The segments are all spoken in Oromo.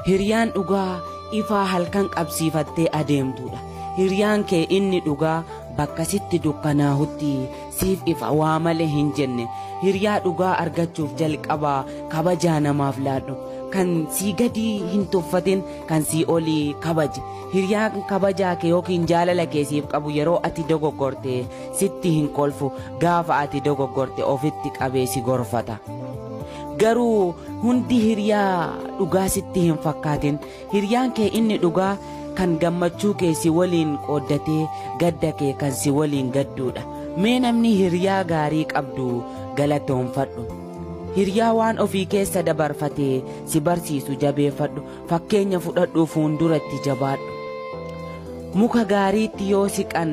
Hiriyaan dhugaa ifaa halkan qabsiifattee adeemtuudha. Hiriyaan kee inni dhugaa bakka sitti dukkanaahutti siif ifa waa malee hin jenne. Hiriyaa dhugaa argachuuf jalqabaa kabajaa namaaf laadhu. Kan sii gadii hin tuffatin kan sii olii kabaji. Hiriyaan kabajaa kee yookiin jaalala kee siif qabu yeroo ati dogoggorte sitti hin kolfu. Gaafa ati dogoggorte ofitti qabee si gorfata. Garuu hundi hiriyaa dhugaa sitti hin fakkaatin. Hiriyaan kee inni dhugaa kan gammachuu kee si waliin qooddatee gadda kee kan si waliin gadduudha. Mee namni hiriyaa gaarii qabdu galatoomfadhu. Hiriyaa waan ofii keessa dabarfatee si barsiisu jabeeffadhu. Fakkeenya fudhadhuu fuunduratti jabaadhu. Muka gaariitti yoo siqan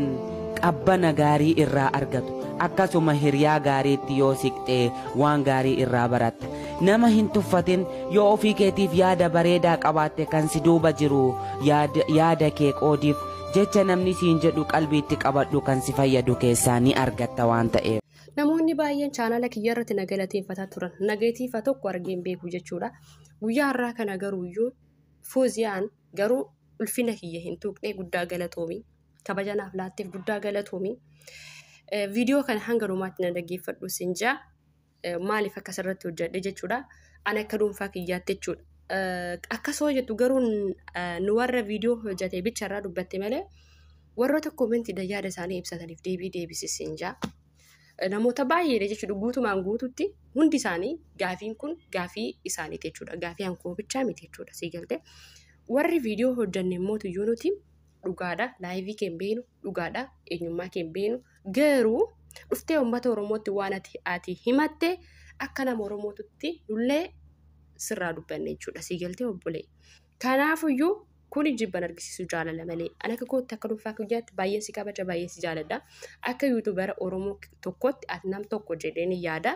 qabbana gaarii irraa argatu. Akkasuma hiriyaa gaariitti yoo siqxe waan gaarii irraa baratta. Nama hin tuffatin yoo ofii keetiif yaada bareedaa qabaatte kan si duuba jiru yaada, yaada kee qoodiif. Jecha namni siin jedhu qalbiitti qabadhu kan si fayyadu keessaa ni argatta waan ta'eef. Namoonni baay'een chaanala kiyya irratti na galateeffataa turan. Nageetiifa tokko argeen beeku jechuudha. Guyyaa har'aa kana garuuyyuu Fooziyaan garuu ulfina kiyya hin tuqne guddaa galatoomi. Kabaja naaf laatteef guddaa galatoomi. Viidiyoo kana hanga dhumaatti na dhaggeeffadhu sin jaa. Maaliif akkas irratti hojjedhe jechuudha. Ani akka dhuunfaa kiyyaatti jechuudha. Akkas hoo jettu garuu nu warra viidiyoo hojjete bicha irraa dubbatte malee warroota koomentiidhaan yaada isaanii ibsataniif deebii deebisi sin jaa. namoota baay'eedha jechuudha guutumaan guututti hundi isaanii gaafiin kun gaafii isaaniiti jechuudha gaafii hankoo bichaa miti jechuudha sii galte warri viidiyoo hojjanne immoo tuyyuu nuti dhugaadha laayivii keen beenu dhugaadha eenyummaa keen beenu garuu dhuftee uummata oromootti waan ati ati himatte akka nama oromootutti nullee sirraa dubbanne jechuudha sii galtee obbolee Kanaafuyyuu kuni jibban argisiisu jaalala malee. An akka kootti akka dhuunfaa kiyyaatti baay'een si kabaja baay'een si jaaladha. Akka yuutubara Oromoo tokkotti ati nam tokko jedheen yaada.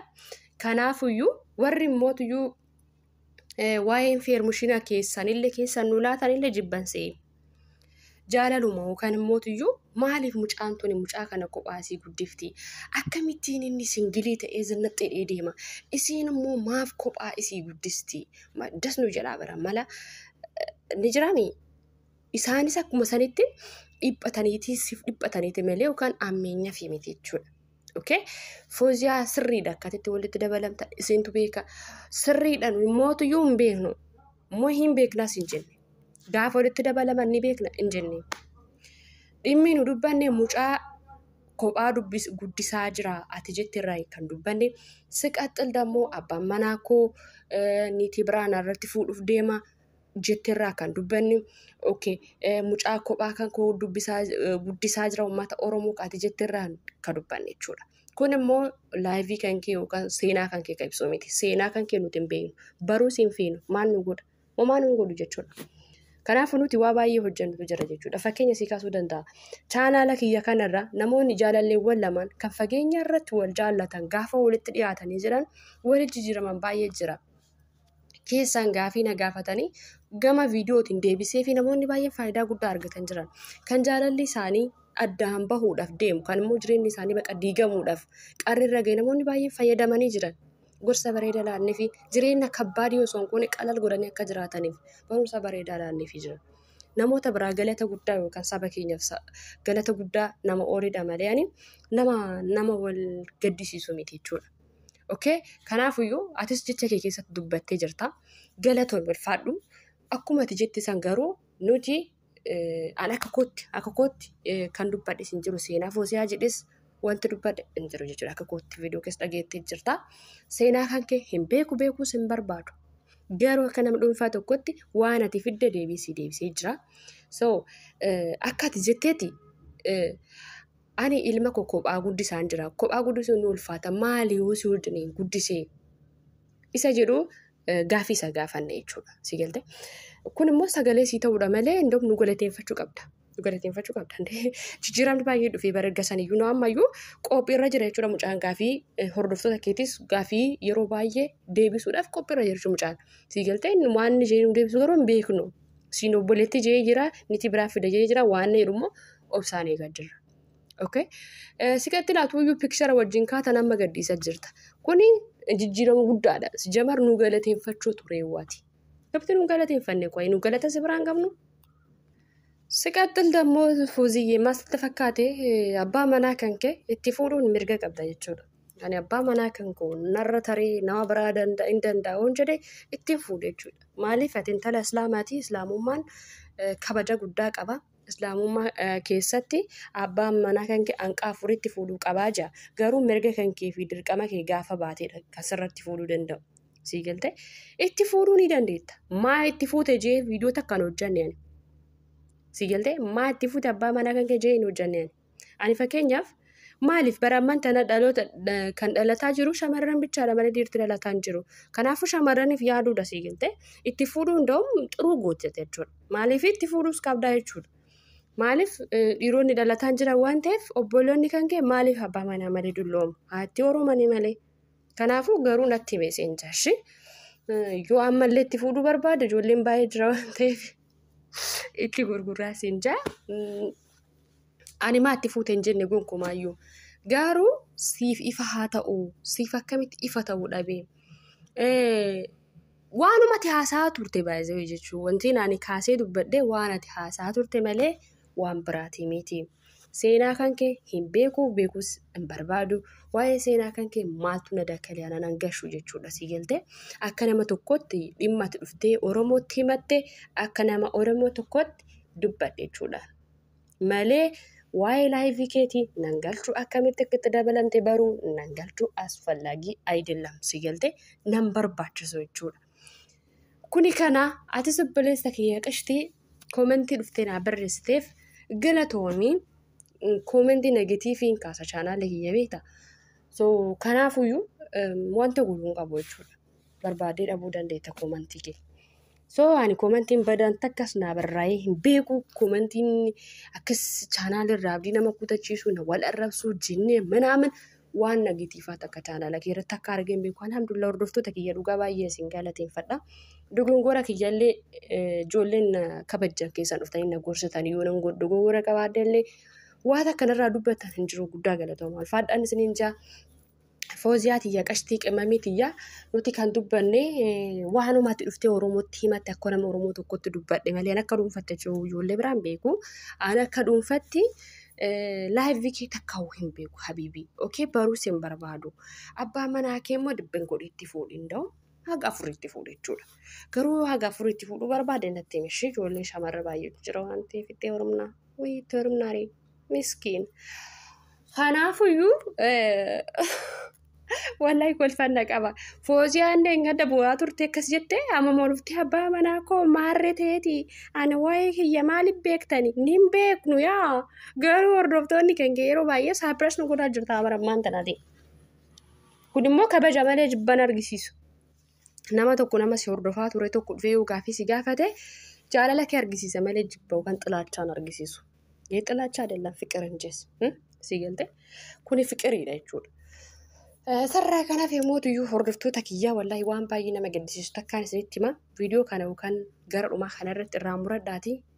Kanaafuyyuu warri mootuyyuu waa'ee infeermushiina keessanillee keessan nu laatanillee jibban se'e. Jaalaluma yookaan immoo tuyyuu maaliif mucaan tuni mucaa kana kophaa isii guddifti? Akkamittiin inni singilii ta'ee zinnaxxee dhee deema? Isiin immoo maaf kophaa isii guddisti? Ma- Das nu jedhaa bara mala eh, ni jiraami. Isaanis akkuma sanitti dhiphataniitii siif dhiphataniiti malee yookaan ammeenyaaf miti jechuudha. Okay? Fooziyaa sirriidha akkatitti walitti dabalamtan isintu beeka. Sirriidhaan mootuyyuu hin beeknu. Moo hin beeknas hin jenne. Gaafa walitti dabalaman ni beekna hin jenne. Dhimmi nu dubbanne mucaa kophaa dubbis guddisaa jira ati jette irraa kan dubbanne. Siqaxxil dammoo abbaan manaa koo eh, niitii biraa narratti fuudhuuf deema. jetterraa kan dubbanne okay eh, mucaa kophaa kan koo dubbisaa eh, guddisaa jira uummata oromoo kaati jetterraa kan dubbanne jechuudha. Kun immoo laayivii kan kee yookaan seenaa kan kee kan ibsu miti. Seenaa kan kee nuti hin beeknu. Baruus hin feenu. Maal nu godha? Homaa nu hin godhu jechuudha. Kanaafuu nuti waa baay'ee hojjennutu jira jechuudha. Fakkeenya sii kaasuu danda'a. Chaanaala kiyya kanarra namoonni jaalalleewwan lamaan kan fageenya irratti wal jaallatan gaafa walitti dhiyaatanii jiran walitti jijjiiraman baay'ee jira. keessaan gaafii na gaafatanii gama viidiyootiin deebisee fi namoonni baay'een faayidaa guddaa argatan jiran kan jaalalli isaanii addaan bahuudhaaf deemu kan immoo jireenyi isaanii baqa diigamuudhaaf qarri irra ga'e namoonni baay'een fayyadamanii jiran gorsa bareeda laannee fi jireenya kabbaadii osoo hin goone qalal godhanii akka jiraataniif barumsa bareedaa laannee fi jira. Namoota biraa galata guddaa yookaan saba keenyaaf sa- galata guddaa nama oolidha malee ani nama nama wal gaddisiisu miti jechuudha. Okay? Kanaafuyyuu atis jecha kee keessatti dubbattee jirta. Galatoon ulfaadhu. Akkuma ati jette san garuu nuti an akka kootti akka kootti kan dubbadhe sin jiru seenaa foosiyaa jedhes wanti dubbadhe hin jiru jechuudha akka kootti viidiyoo keessa dhageettee jirta. Seenaa kan kee hin beeku beekuus hin barbaadu. Garuu akka nama dhuunfaa tokkotti waan ati fidde deebisii deebisee jira. So akka ati jetteeti Ani ilma koo kophaa guddisaan jira. Kophaa guddisuun ni ulfaata. Maali yoo si wajjiniin guddisee? Isa jedhu gaaffii isa gaafanne jechuudha. Si galte? Kun immoo sagalee sii ta'uudha malee indoom nu galateeffachuu qabda. Nu galateeffachuu qabda. Jijjiiramni baay'ee dhufee bara erga saniyyuu nu ammayyuu qophiirra jira jechuudha mucaan gaaffii hordoftoota keetis gaaffii yeroo baay'ee deebisuudhaaf qophiirra jira jechuudha mucaan. Si galte? Waan inni jedhu deebisu garuu hin beeknu. siin obboleetti jee jira niti biraa fida jee jira waan na jedhu immoo obsaan eegaa jirra. Okay. Siqatti laatu iyyuu pikchara wajjin kaatan amma gadhiisa jirta. Kuni jijjiirama guddaadha. Jamar nu galateeffachuu ture waati. Gabti nu galateeffanne qoyi nu galata si biraan qabnu. Siqattil dammoo fuuziyyee maal sitti fakkaate abbaa manaa kan kee itti fuudhuun mirga qabda jechuudha. Ani abbaa manaa kan koo narra tarii nama biraa danda'a hin danda'a oon jedhe ittiin fuudhe jechuudha. Maaliif ati intala islaamaati islaamummaan eh, kabaja guddaa qaba. Islaamummaa eh, keessatti abbaan manaa kan kee hanqaa afuritti fuudhuu qabaa jaa. Garuu mirga kan kee fi dirqama kee gaafa baateedha kan sirratti fuudhuu danda'u. Sii galte itti fuudhuu ni dandeetta. Maa itti fuute jee viidiyoo takkaan hojjanne ani. Sii galte maa itti fuute abbaa manaa kan kee jee hin hojjanne ani. Ani fakkeenyaaf maaliif bara amman tana dhaloota kan dhalataa jiru shamarran bichaadha malee dhiirti dhalataa hin jiru. Kanaafuu shamarraniif yaaduudha sii galte itti fuudhuu hunda'uun xuruu gooteete jechuudha. Maaliif itti fuudhuus qabdaa jechuudha. Maaliif dhiironni dhalataan jiran waan ta'eef obboloonni kan kee maaliif abbaa manaa malee dulloomu haatti oromanii malee. Kanaafuu garuu natti himee seen jaarshi yoo ammallee itti fuudhuu barbaade ijoolleen baay'ee jira waan ta'eef itti gurguraa seen jaa. ani maa itti fuute hin jenne gonkumaayyuu garuu siif ifa haa ta'u siif akkamitti ifa ta'uu dhabe waanumati haasaa turte baay'ee jechuun wanti ani kaasee dubbadhe waan ati haasaa turte malee waan biraati miti seenaa kan kee hin beeku beekus hin barbaadu waa'ee seenaa kan kee maaltu na dakkalee ana nan gashu jechuudha si galte akka nama tokkotti dhimma ati dhuftee oromootti himatte akka nama oromoo tokkotti dubbadhe jechuudha. Malee waa'ee laayivii keetii nan galchuu akkamitti akka itti dabalamte baruu nan galchuu asfallaagii ayidillam si galte nan barbaachisu jechuudha. Kuni kana ati obboleessa kiyya qashtii koomentii dhuftee naa barreessiteef galatoomii koomentii negatiivii hin kaasa chaanaala kiyya beekta. So kanaafuyyuu wanta guutuu hin qabu jechuudha. Barbaadee dhabuu dandeetta koomentii kee. So ani komantiin badaan takkas naa barraa'ee hin beeku komantiin akkas chaanaala irraa abdii nama kutachiisuu na wal arrabsuu jinnee manaaman waan nagitiifaa takka chaanaala kee irratti akka argee hin beeku alhamdulillah hordoftoota kiyya dhugaa baay'ee isin galateeffadha. Dogongora kiyyallee ijoolleen na kabajjan keessan dhuftanii na gorsitan yoo nan dogongora qabaadde illee waan akkanarraa dubbatan hin jiru guddaa galatoomaa ulfaadhaan isiniin jaa Fooziyaa tiyya qashtii qimamii tiyya nuti kan dubbanne waanumatti dhuftee Oromootti himatti akka nama Oromoo tokkotti dubbadhe malee akka dhuunfatte jiru ijoollee biraan beeku. Aan akka dhuunfatti laayivii kee takkaa'uu hin beeku habiibii. Okee baruus hin barbaadu. Abbaa manaa kee immoo dibben godhee itti fuudhi hin da'u. Haga afur itti fuudhe jechuudha. Garuu haga afur itti fuudhuu barbaade natti himi ishee ijoollee shamarra baay'eetu jira waan ta'eef itti heerumnaa. Wayii itti heerumnaa ree. miskiin kanaafuyyuu wallahi kolfanna qaba fooziyaan deengadda bu'aa turte akkas jette amma mormte abbaa manaa koo maarre teeti ani waa'ee kiyya maaliif beektani nin beeknu yaa garuu hordoftoonni keenya yeroo baay'ee saaphiras nu godhaa jirta amara ammaan tanati kun immoo kabaja malee jibban argisiisu nama tokko nama si hordofaa ture tokko dhufee yoo gaaffii si gaafate jaalala kee argisiisa malee jibba yookaan xilaachaan argisiisu. Yee xilaachaa adeelan fiqir hin jees. Si galte kuni fiqiriidha jechuudha. Sarraa kanaaf yommuu iyyuu hordoftoota kiyyaa wallaahi waan baay'ee nama gaddisiisu takkaan isinitti hima viidiyoo kana yookaan gara dhumaa kana irratti irraa muradhaatii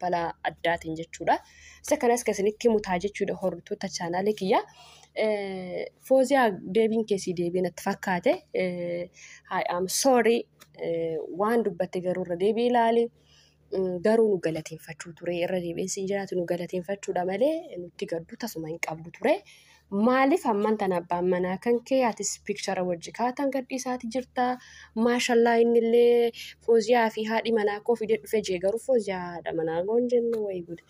balaa addaatiin jechuudha. Isa kanas kan isinitti himu ta'a jechuudha hordoftoota chaanaalii kiyya. Fooziyaa deebiin keessii deebiin itti fakkaate. I am sorry waan dubbatte garuu irra deebii ilaali. Garuu nu galateeffachuu ture irra deebiin siin jiraatu nu galateeffachuudha malee nutti gaddu tasuma hin qabdu ture. Maalif amman tan abbaan manaa kan kee atis pikchara wajji kaatan gadhiisaati jirta maashallaa innillee fooziyaa fi haadhi manaa koo fidee dhufe jee garuu fooziyaa haadha manaa koo hin jenne wayi gude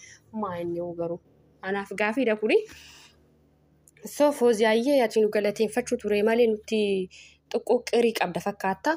maa inni hoo garuu anaaf gaafiidha kuni so fooziyaayyee ati nu galateeffachuu ture malee nutti xiqqoo qirii qabda fakkaata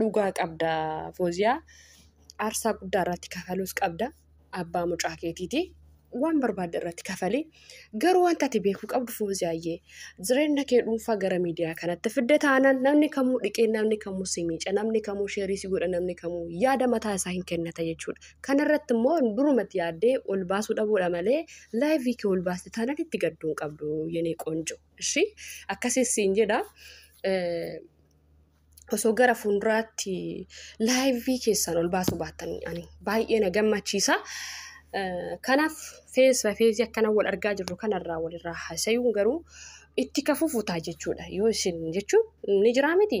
dhugaa qabda fooziyaa aarsaa guddaa irratti kafaluus qabda abbaa mucaa keetiiti waan barbaadde irratti kafali garuu wanta ati beekuu qabdu fooziyaayyee jireenya kee dhuunfaa gara miidiyaa kanatti fidde taanaan namni kamuu dhiqee namni kamuu si miica namni kamuu sheerii si godha namni kamuu yaada mataa isaa hin kennata jechuudha kanarratti immoo durumatti yaaddee ol baasuu dhabuudha malee laayivii kee ol baaste taanaan itti gadduu hin qabdu yenee qoonjo ishii akkasiis siin jedha. Eh, osoo gara fuulduraatti laayivii keessan ol baasuu baattan ani baay'ee na gammachiisa. Eh, Kanaaf fees bafeesii akkana wal argaa jirru kanarraa walirraa haasayuun garuu itti ka fufu ta'a jechuudha. Yoo isin jechuun ni jiraa miti.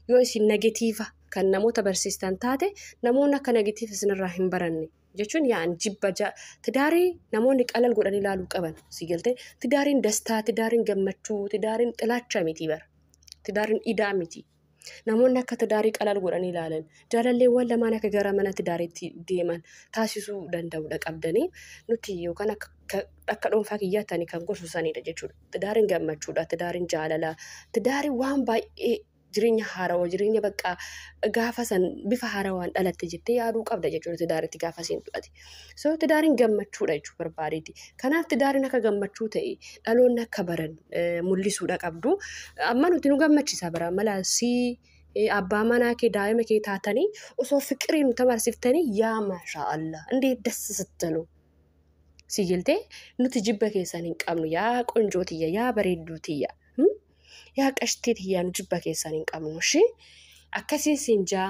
Yoo isin negatiiva kan namoota barsiistan taate namoonni akka negatiiva isinirraa hin baranne. Jechuun yaan jibba ja tidaarii namoonni qalal godhanii ilaaluu qaban si galtee tidaariin dastaa tidaariin gammachuu tidaariin xilaacha miti bara. Tidaariin idaa miti. Namoonni akka tidaarii qalaal godhanii ilaalan jaalalleewwan lamaan akka gara mana tidaariitti deeman taasisuu danda'udha qabdanii nuti yookaan akka ka- akka dhuunfaa kiyyaatti ani kan gorsu sanidha jechuudha. Tidaariin gammachuudha, tidaariin jaalala, tidaariin waan baay'ee jireenya haarawaa, jireenya baqqaa gaafa san bifa haarawaan dhalatte jettee yaaduu qabda jechuudha tidaaritti gaafa seentu ati. So tidaariin gammachuudha jechuu barbaadeeti. Kanaaf tidaariin akka gammachuu ta'e dhaloonni akka baran eh, mul'isuudha qabdu. Amma nuti nu gammachiisa bara mala si eh, abbaa manaa kee daa'ima kee taatanii osoo fiqirii nu tamarsiftanii yaa maashaa Allah indeet das sittalu. Si jiltee nuti jibba keessan hin qabnu yaa qonjoo tiyya yaa bareedduu tiyya. Hmm? Yaa qashtii tiyya nu jibba keessan hin qabnu shi akkasiin siin jaa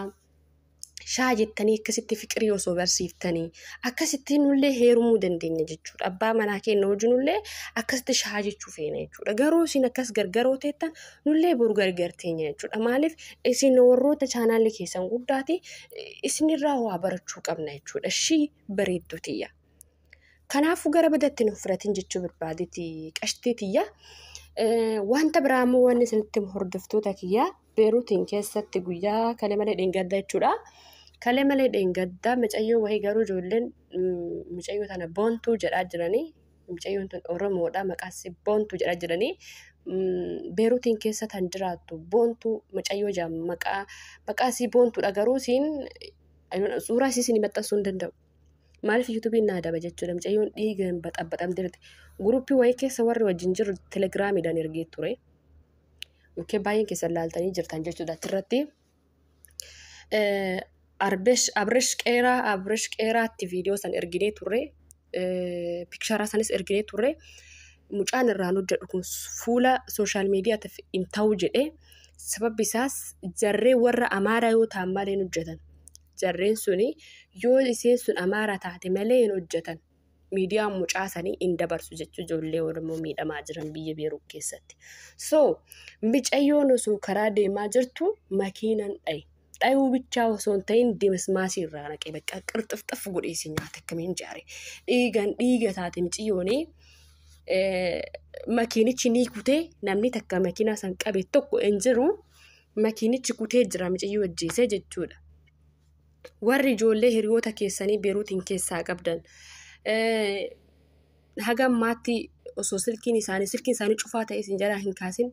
shaa jettanii akkasitti fiqirii osoo barsiiftanii akkasitti nullee heerumuu dandeenya jechuudha. Abbaa manaa keenya wajjinullee akkasitti shaa jechuu feena jechuudha. Garuu isin akkas gargaroo teettan nullee boru gargarteenya jechuudha. Maaliif isin warroota chaanaalli keessan guddaati isinirraa waa barachuu qabna jechuudha. Shii bareedduu tiyya. Kanaafuu gara badatti nuuf fudhatin jechuu barbaaditi qashtii tiyya. Wanta biraa immoo wanni isinitti hordoftoota kiyyaa. Beeruutiin keessatti guyyaa kalee malee dheengaddaa jechuudha. Kalee malee dheengaddaa micayyoo wahii garuu ijoolleen micayyoo tana boontuu jedhaa jiranii micayyoon tun Oromoodha maqaansi boontuu jedhaa jiranii Beeruutiin keessa tan jiraattu boontuu micayyoo jaan maqaa maqaa isii boontuudha garuu siin suuraa isii siin maxxansuu hin danda'u. Maaliif yuutuubiin naa daba jechuudha micayyoon dhiigaan baxabaxamtee jirti. Guruppii wahii keessa warri wajjin jiru telegiraamiidhaan ergee ture. Okkee baay'een keessan laaltanii jirtan jechuudha achirratti. Abresh Qeeraa Abresh Qeeraatti viidiyoo san erginee turre. Piksharaa sanis erginee turre. Mucaan irraan hojjedhu kun fuula sooshaal miidiyaatiif hin ta'u jedhee sababbi isaas jarree warra amaaraa yoo ta'an malee hin hojjetan. Jarreen suni yoo isheen sun amaaraa taate malee hin hojjetan. miidiyaan mucaa sanii hin dabarsu jechuun ijoollee Oromoo miidhamaa jiran biyya Beeruu keessatti. So micayyoon osoo karaa deemaa jirtu makiinan dhaye. Dhayuu bichaa osoo hin ta'in dimismaasii irraa naqee bakka qirxifxif godhee si nyaate akkamiin jaare. Dhiigan dhiiga taate miciyyoonii makiinichi ni kutee namni takka makiinaa san qabe tokko hin jiru. Makiinichi kutee jira miciyyoo ajjeesee jechuudha. warri ijoollee hiriyoota keessanii beeruutiin keessaa qabdan haga ammaatti osoo silkiin isaanii silkiin isaanii cufaa ta'e isin jalaa hin kaasin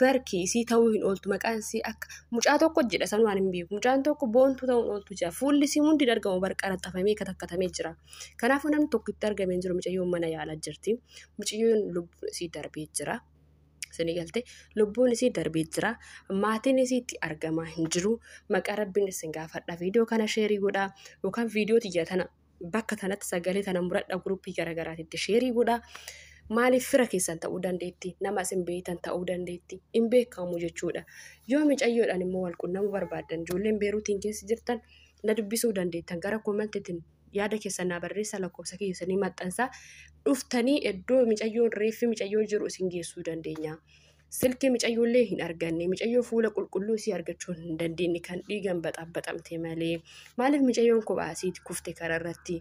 barki isii ta'uu hin ooltu maqaan isii akka mucaa tokko jedha san waan hin beeku mucaan tokko boontuu ta'uu hin ooltu jira fuulli isii hundi hin argamu bar qaraxxafamee katakkatamee jira kanaafuu namni tokko itti argame hin jiru mucayyoon mana yaalaa jirti mucayyoon lubbuun isii darbee jira. Isinii galtee lubbuun isii darbee jira. Maatiin isii itti argamaa hin jiru. Maqaa rabbiin isin gaafadha. Viidiyoo kana sheerii godhaa yookaan viidiyoo tiyya tana bakka tanatti sagalee tana muradha guruppii garaagaraatitti sheerii godhaa. Maaliif fira keessan ta'uu dandeetti? Nama isin beektan ta'uu dandeetti. Hin beekamu jechuudha. Yoo micayyoodhaan immoo wal qunnamuu barbaaddan ijoolleen beeruutiin keessa jirtan na dubbisuu dandeettan gara koomentiitiin yaada keessan naa barreessaa lakkoofsa kiyya isanii maxxansaa dhuftanii iddoo micayyoon reeffi micayyoo jiru isin geessuu dandeenya. Silkii micayyoollee hin arganne micayyoo fuula qulqulluu isii argachuu hin dandeenye kan dhiigan baxabaxamte malee maaliif micayyoon kophaa asiiti kufte kararratti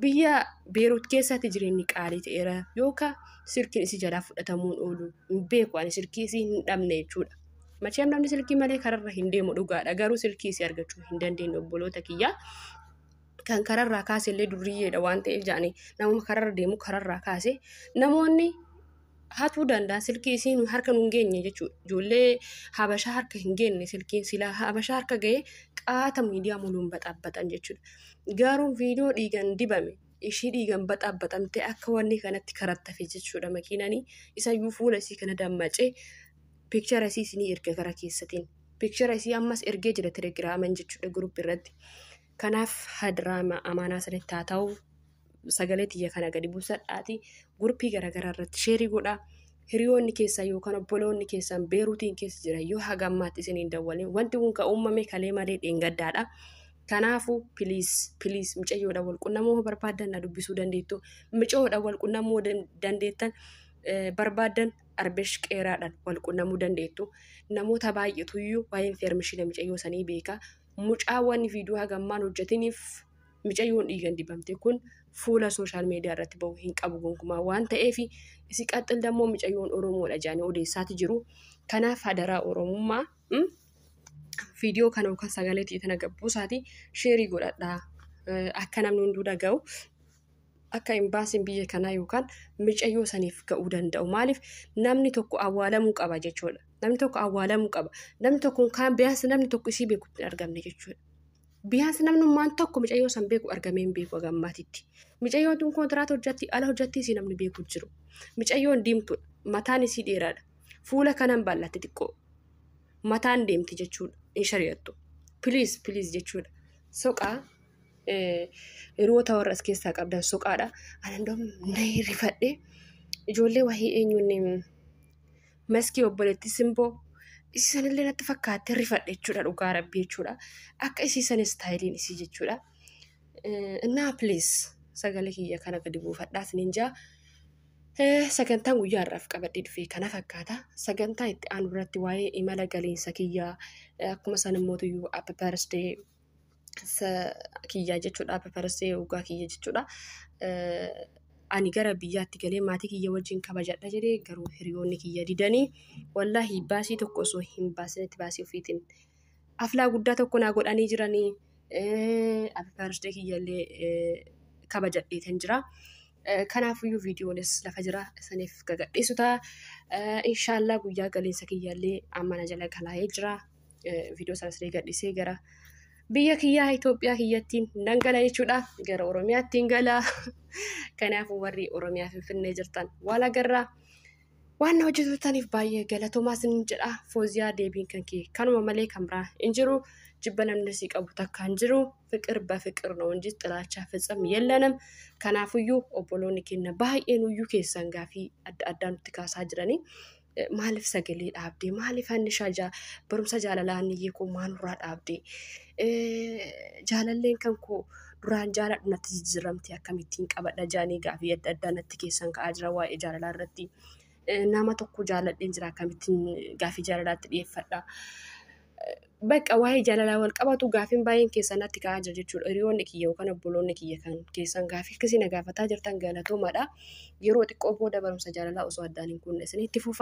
biyya beeruut keessatti jireenyi qaalii ta'eera yookaan silkiin isii jalaa fudhatamuun oolu hin beeku ani silkii isii hin dhabne jechuudha. Macheem namni silkii malee kararra hin deemu dhugaadha garuu silkii isii argachuu hin dandeenye obboloota kiyyaa. kan kararraa kaase illee durriyyeedha waan ta'eef jedhanii namuma kararra deemu kararraa kaase namoonni hatuu danda'an silkii isiin harka nun geenye jechuudha ijoollee habashaa harka hin geenye silkiin silaa habashaa harka ga'ee qaata miidiyaa muluun baxaabaxan jechuudha garuu viidiyoo dhiigan dibame ishii dhiigan baxaabaxamte akka wanni kanatti karattafe jechuudha makiinanii isayyuu fuula isii kana dammacee piikchara isii isinii erga gara keessatiin Picture isii ammas ergee jira telegiraaman jechuudha group irratti. Kanaaf hadiraama amaanaa sanitti haa ta'u sagalee tiyya kana gadi buusadhaati gurpii garaagaraa irratti sheerii godhaa. Hiriyoonni keessan yookaan obboloonni keessan beeruutiin keessa jiran yoo haga ammaatti isin hin dawwalin wanti kun kan uumame kalee malee dheengaddaadha. Kanaafuu piliis piliis micayyoodhaan wal qunnamuu yoo barbaaddan na dubbisuu dandeettu. Micayyoodhaan wal qunnamuu dandeettan eh, barbaaddan Arbesh Qeeraadhaan wal qunnamuu dandeettu. Namoota baay'eetu iyyuu waa'ee infeermishina micayyoo sanii beeka. Mucaa waan viidiyoo haga ammaan hojjetiniif micayyoon dhiigan dibamte kun fuula sooshaal miidiyaa irratti ba'u hin qabu gonkumaa waan ta'eef isi qaxxil dammoo micayyoon Oromoodha jedhanii odeessaati jiru. Kanaaf hadaraa Oromummaa viidiyoo kana yookaan sagalee ta'e tana gabbuusaati sheerii godhadhaa akka namni hunduu dhaga'u. akka imbaasiin biyya kanaa yookaan micayyoo saniif ga'uu danda'u. Maaliif namni tokko awwaalamuu qaba jechuudha. Namni tokko awwaalamuu qaba. Namni tokko kaan biyaansi namni tokko isii beeku hin argamne jechuudha. Biyaansi namnummaan tokko micayyoo san beeku argamee hin beeku agammaatitti. Micayyoon tun kontiraata hojjatti ala hojjatti isii namni beeku hin jiru. Micayyoon diimtuudha. Mataan isii dheeraadha. Fuula kanan bal'atti xiqqoo. Mataan deemti jechuudha. Hin shari'attu. Piliis piliis jechuudha. Soqaa hiriyoota warra as keessaa qabdan soqaadha. Ani hundum nahee rifadhe ijoollee wahii eenyuun maskii obboleetti simboo isisanillee natti fakkaattee rifadhe jechuudha dhugaa rabbii jechuudha. Akka isisan istaayiliin isii jechuudha. Innaa please sagalee kiyya kana gadi buufadhaa isiniin jaa. Sagantaan guyyaa har'aaf qabadhee dhufe kana fakkaata. Sagantaa itti aanu irratti waa'ee imala galiinsa kiyyaa akkuma san immoo tuyyuu abba birthday kiyyaa jechuudha pepersee dhugaa kiyya jechuudha. Ani gara biyyaatti galee maatii kiyya wajjin kabajadha jedhee garuu hiriyoonni kiyya didanii wallaahi baasii tokko osoo hin baasinitti baasii ofiitiin aflaa guddaa tokko naa godhanii jiranii pepersee kiyya illee kabajadhee kan jira. Kanaafiyyuu viidiyoonis lafa jira isaniif gagadhiisu ta'a. Inshaallah guyyaa galiinsa kiyya illee amma na jala galaa'ee jira. viidiyoo isaas illee gadhisee gara biyya kiyyaa Itoophiyaa kiyyattiin nan gala jechuudha. Gara Oromiyaatti hin gala. Kanaafuu warri Oromiyaa Finfinnee jirtan waan agarraa waan na hojjetaniif baay'ee galatoomaa sin jedha. Fooziyaa deebiin kan kee kanuma malee kan biraa hin jiru. Jibba namni si qabu takka hin jiru. Fiqir ba fiqir no inji xilaachaa fitsam yellanem. Kanaafuyyuu obboloonni keenya baay'een uyyuu keessan gaafii adda addaa nutti kaasaa jiranii. Maaliif sagalee dhaabdee? Maaliif annishaa jaa barumsa jaalalaa anniyyee koo maalurraa dhaabdee? Jaalalleen kan koo duraan jaaladhu natti jijjiiramte akkamittiin qabadha jaanii gaafii adda addaa natti keessan ka'aa jira waa'ee jaalalaa irratti. Nama tokko jaaladheen jira akkamittiin gaafii jaalalaatti dhiyeeffadha. Bakka waa'ee jaalalaa wal qabatu gaafiin baay'een keessan natti ka'aa jira jechuudha. Hiriyoonni kiyya yookaan obboloonni kiyya kan keessan gaafii akkasii na gaafataa jirtan galatoomadha. Yeroo xiqqoo booda barumsa jaalalaa osoo addaan hin kunne isinitti fufaa.